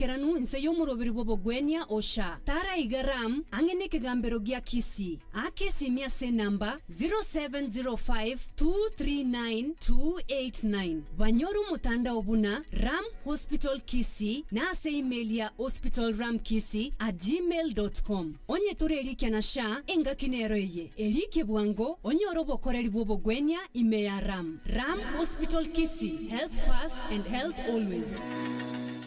Keranu inse y'omoroberi bw'obogwenia Hosha, taraiga Ram ang'e n'ekegambero gia Kisi, akesimia ase enamba 0705239289. Banyore omotandao buna Ram Hospital Kisi na ase email ya hospitalramkisi at gmail dot com. Onye tore erikia na sha, engaki nero eye, erikie bwango onyore obokoreri bw'obogwenia ime ya Ram. Ram Hospital Kisi, health first and health always.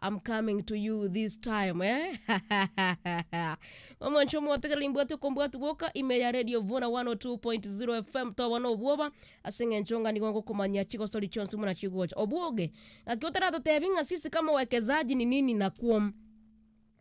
I'm coming to you this time eh? Omonche omotegereri mbwate okombwati boka ime ya Radio Vuna 102.0 FM toba na obwoba ase eng'encho onga nigo ngokomanyia chigosori chionsi muna chigocha obwoge ng'aki otaratotebi ng'a sisi kama uwekezaji ni nini nakwom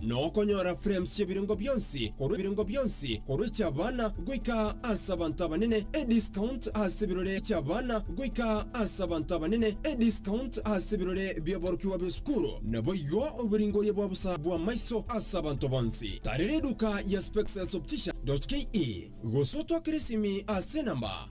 na okonyora frames chi'ebirengo bionsi korwa ebirengo bionsi korwa echi'abana goika ase abanto abanene, ediscount ase ebirore chi'abana goika ase abanto abanene, ediscount ase ebirore bi'oborokigwa bw'esukuru, naboigo oboringoria bwa bosa bw'amaiso ase abanto bonsi. Tarera eduka ya Spexelsoptician.ke, gose otwakere esimi ase enamba.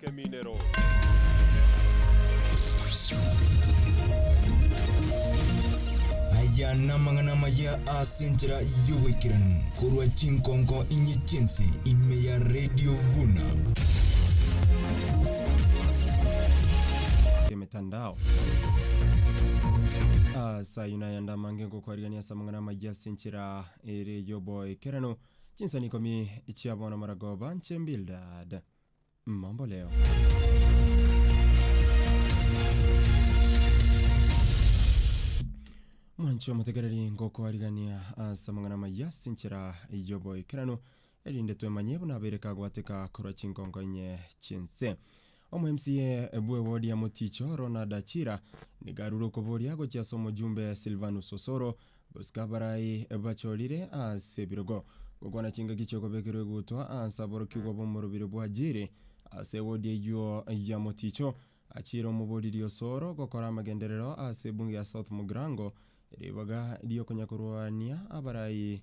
Keminero. Aya namang'ana amaya ase enchera y'oboikeranu korwa chinkonko inye chinsi ime ya Radio Vuna. emetandao asa yuna yanda mange ngokwarigania asa amang'ana amaya ase enchera ere yoboikerano chinsani ikomi chiabono maragoba nche bildad Mamboleo. Mwanche omotegereri ngokwarigania ase amang'ana amaya ase enchera y'oboikeranu, erinde twemanye buna abeire kagwateka korwa chinkonko inye chi'ense. Omo MCA bw'ewodi ya Moticho, Ronald Achira, nigo arure okoboria gochia ase omojumbe Silvanus Osoro, Bosika abarai bachorire ase ebirogo, gokwana chingaki chi'okobekerwa egutwa ase aborokigwa b'omorobiri bwa Jiri, ase ewodi eyio ya moticho, achiire omobooriri osoro gokora amagenderero ase ebunge ya South Mugrango, ribaga ri'okonyakorwania abarai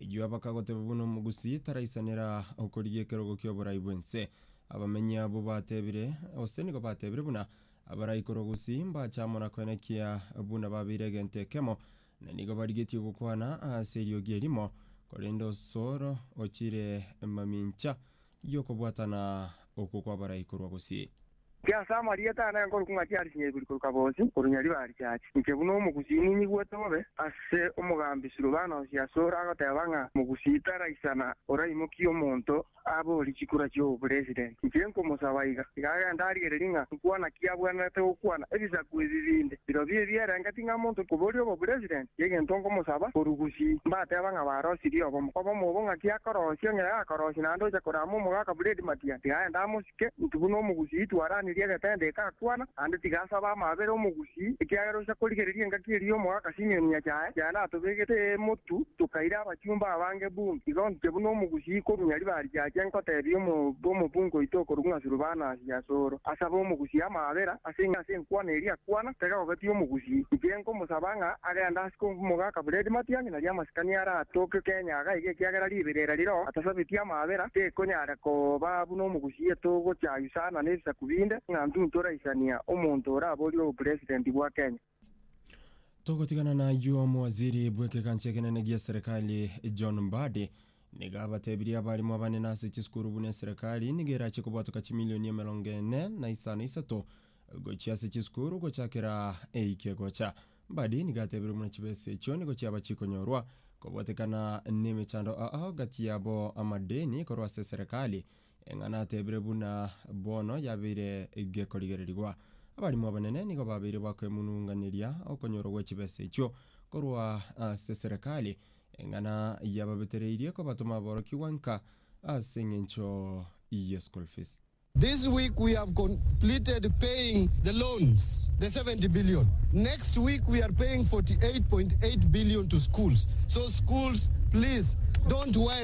Erio bakagoteba buna omogusii taraisanera okorigia ekerogo ki'oborai bw'ense. Abamenyi abwo batebire, gose nigo batebire buna abarai korwa gusii mbache amo na koina ekiya buna babeire egento ekemo, na nigo barigetie gokwana ase eriogi erimo, korende osoro ochire mamincha. y'okobwatana okwo kwabarai korwa gose. Ki ase amarieta ane nkorokwa ng'a chiari chinyaibori korwa kabosi, korwa nyaribarichachi? Inche buna omogusii ninyigwete bobe ase omogambi Silvanus asore agoteba ng'a mogusii taraisana oraimokie omonto abe oria chikura chi'obopresident. Inche nkomosaba iga, tiga agende arigererie ng'a nkwana ki abwenerete gokwana ebisaku ebi binde. Birobio ebi erenge ting'a monto koboria obopresident y'egento ngomosaba borugusi, mbateba ng'a barosirie obo, mokoba omobo ng'a tiakorosia, ng'ere akorosia naende ocha korama omogaka Fred Matia, tiga aende amosike, inki buna omogusii twaranirie egetende eke akwana, naende tiga asabe amaabera omogusii, ekiagera ocha korigereria engaki eria y'omogaka Simeon Nyachae, yaani atobegete emotu, tokaira abachumba abange buna igo ondiche buna omogusii korunya riba riache, ngotebia omobe omobunga oito okorwa ng'a Surubanasi, Asoro, asabe omogusii amaabera, Ase eng'encho ase enkwana eria akwana, taiga ogatia omogusii. Inche nkomosaba ng'a agende ase komoga akaburedi matianyi naria amasikani are atoke kenyaga iga ekiagera riberera riro atasabetie amaabera tekonyare koba buna omogusii etogocha aisana nebisaku binde ng'a ntuntoraisania omonto oraborie obopresidenti bwa Kenya. Togotigana nayio omowaziri bw'ekegancha ekenene gi'eserekari John Mbadi nigo abatebirie abarimu abanene ase chisukuru buna eserekari nigo erache kobwatoka chimilioni emerongo ene na isano isato gochia ase chisukuru gochakera eike gocha. Mbadi nigo atebire buna chibesa echio nigo chiaba chikonyorwa kobwatekana nemechando aa gati yabo amadeni korwa ase eserekari Eng'ana atebire buna bono yabeire gekorigererigwa. Abarimo abanene nigo babeire bakoemununganeria okonyorwa gwe chibesa echio korwa ase eserekari. Eng'ana yababetereirie kobatoma aborokigwa nka ase eng'encho ye school fees. This week we have completed paying the loans, the 70 billion. Next week we are paying 48.8 billion to schools. So schools please don't worry.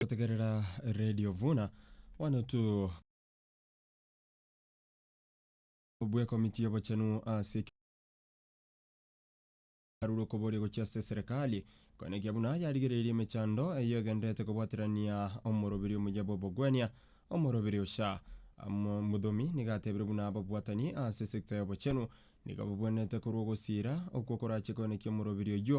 Gotegerera Radio Vuna one to bw'ekomiti y'obochenu ase arure okoboria gochia ase eserekari koenekia buna yarigereirie emechando eyio egendererete kobwaterania omoroberi omuya bw'obogwenia omoroberi Osha Mo- Mudhomi nigo atebire buna ababwatani ase esecta y'obochenu nigo babwenerete korwa ogosira okwo korachie koenekia omoroberi oyio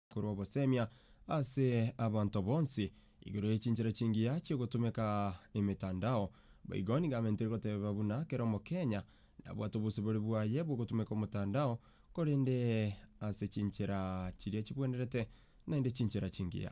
korwa obosemia ase abanto bonsi igoro ye chinchera chingiya chi'ogotumeka emetandao, boigo nigo amentire goteba buna kera omokenya nabwate obosibore bwaye bw'ogotumeka omotandao, korende ase chinchera chiria chibwenerete, naende chinchera chingiya.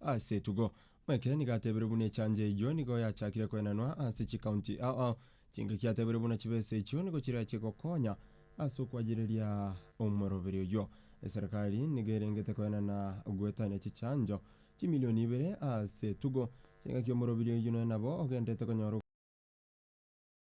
as'etugo. Mweke nigo atebeirwe buna echancha eyio nigo yachakire koenanwa ase chikaunti ao. Chingaki atebeirwe buna chibesa echio nigo chiria chigokonya as'okwayereria omoroberi oyio. Eserekari nigo erengete koenana gwetania chichancho chimilioni ibere as'etugo. Chingaki omoroberi oyio noe nabo ogenderete konyora.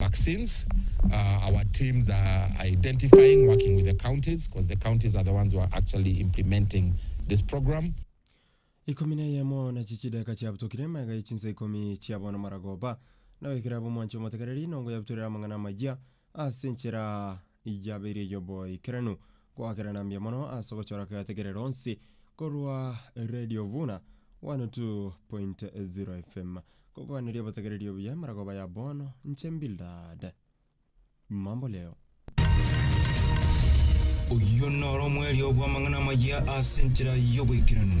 vaccines uh, our teams are identifying working with the counties because the counties are the ones who are actually implementing this program Ikomi na eyemo na chichideka chiabutokire emega ye chinsa ikomi chia bono maragoba, na oikire abwo mwanche omotegereri, nongo yabutorere amang'ana amayia ase enchera Yabeire ey'oboikeranu goakerana mbuya mono ase ogochora keategerero onsi korwa Radio Vuna 102.0 FM. Ngokwaneria obotegereri obuya emaragoba ya bono, inche Mbildad. Mambo leo. Oyio noro omwerio bw'amang'ana amaya ase enchera y'oboikeranu.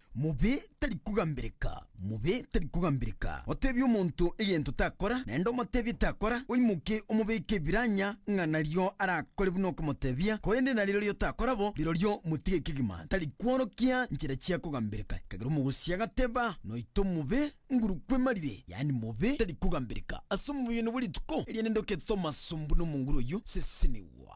Mobe tari kogambireka, mobe tari kogambireka. Otebie omonto egento takora, naende omotebie takora, oimoke omobeke ebiranya ng'a nario arakore buna okomotebia, korende na rirorio takora bo, rirorio motige kegima, tari kworokia nchera chia kogambireka. Ekagera omogosi agateba, Noito mobe nguru kwemarire, yaani mobe tari kogambireka. Ase omobe oyono bwe rituko eriane ndokete omasombu nomonguru oyio sesenigwa.